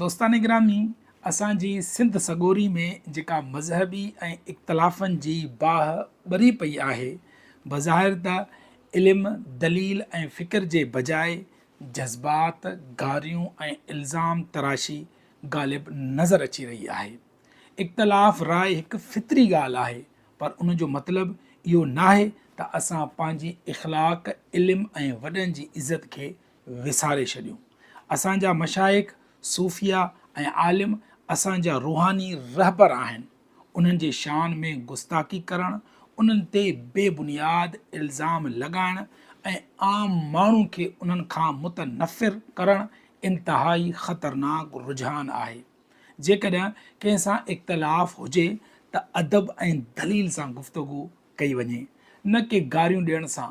دوستان گرامي اسان جي سنڌ سڳوري ۾ جيڪا مذهبي ۽ اختلافن جي باهه ٻري پئي آهي بظاهر ته علم دليل ۽ فڪر جي بجاء جذبات گاريون ۽ الزام تراشي غالب نظر اچي رهي آهي اختلاف راء هڪ فطري ڳالهه آهي پر ان جو مطلب اهو ناهي ته اسان پنهنجي اخلاق علم ۽ وڏن جي عزت کي وساري ڇڏيون. اسان جا مشائخ، صوفيا ۽ عالم اسان جا روحاني رهبر آهن، انهن جي شان ۾ گستاخي ڪرڻ، انهن تي بي بنياد الزام لڳائڻ ۽ عام ماڻهو کي انهن کان متنفر ڪرڻ انتهائي خطرناڪ رجحان آهي. جيڪڏهن ڪنهن سان اختلاف هجي ته ادب ۽ دليل سان گفتگو ڪئي وڃي، نه ڪي گاريون ڏيڻ سان.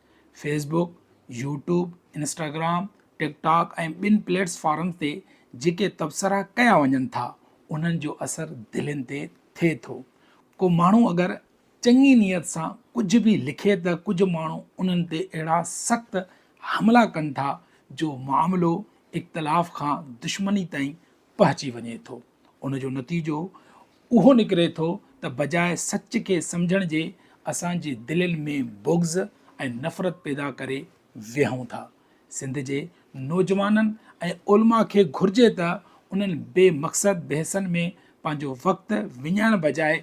Facebook, YouTube, Instagram, TikTok ۽ ٻين پليٽس فارمز تي جيڪي تبصرا ڪيا وڃن ٿا انهن جو اثر دلين تي ٿئي ٿو. ڪو ماڻهو اگر چڱي نيت سان ڪجهه به لکي ته ڪجهه ماڻهو انهن تي اهڙا سخت حملا ڪن ٿا جو معاملو اختلاف کان دشمني تائين پهچي وڃي ٿو. ان جو نتيجو اهو نڪري ٿو ته بجاء سچ کي سمجهڻ جي اسان جي دلين ۾ بغض ۽ نفرت پيدا ڪري ويهون ٿا. سنڌ جي نوجوانن ۽ علماء کي گهرجي ته انهن بي مقصد بحثن ۾ پنهنجو وقت وڃائڻ بجاء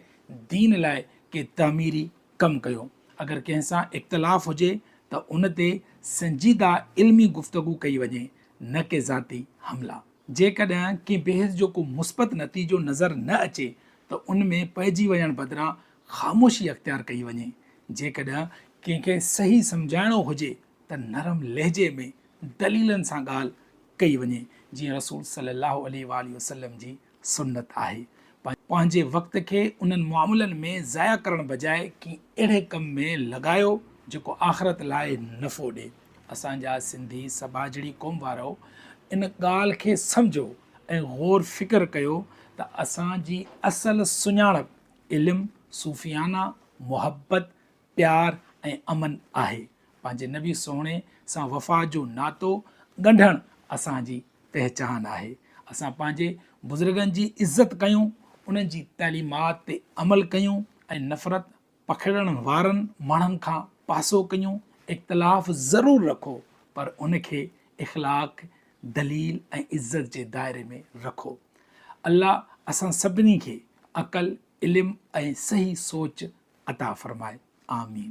دين لاء ڪي تعميري ڪم ڪيو. اگر ڪنهن سان اختلاف هجي ته ان تي سنجيده علمي گفتگو ڪئي وڃي نه ڪي ذاتي حملا. جيڪڏهن ڪنهن بحث جو ڪو مثبت نتيجو نظر نه اچي ته ان ۾ پئجي وڃڻ بدران خاموشي اختيار ڪئي وڃي. جيڪڏهن ڪنهن کي صحيح سمجهائڻو هجي ته نرم لهجي ۾ دليلن سان ڳالهه ڪئي وڃي جيئن رسول صلي الله عليه واٰله وسلم جي سنت آهي. پنهنجي وقت کي انهن معاملن ۾ ضايع ڪرڻ بجاء ڪنهن اهڙي ڪم ۾ لڳايو جيڪو آخرت لاء نفعو ڏي. اسان جا سنڌي سٻاجهڙي قوم وارؤ ان ڳالهه کي سمجهو ۽ غور فڪر ڪيو ته اسان جي اصل سڃاڻپ علم، صوفيانه محبت، پيار ۽ امن آهي. پنهنجي نبي سهڻي سان وفا جو ناتو ڳنڍڻ اسان جي پهچان آهي. اسان پنهنجي بزرگن جي عزت ڪيون، انهن جي تعليمات تي عمل ڪيون ۽ نفرت، پکيڙڻ وارن ماڻهن کان پاسو ڪيو، اختلاف ضرور رکو پر ان کي اخلاق، دليل ۽ عزت جي دائري ۾ رکو. الله اسان سڀني کي عقل، علم ۽ صحيح سوچ عطا فرمائي. آمين.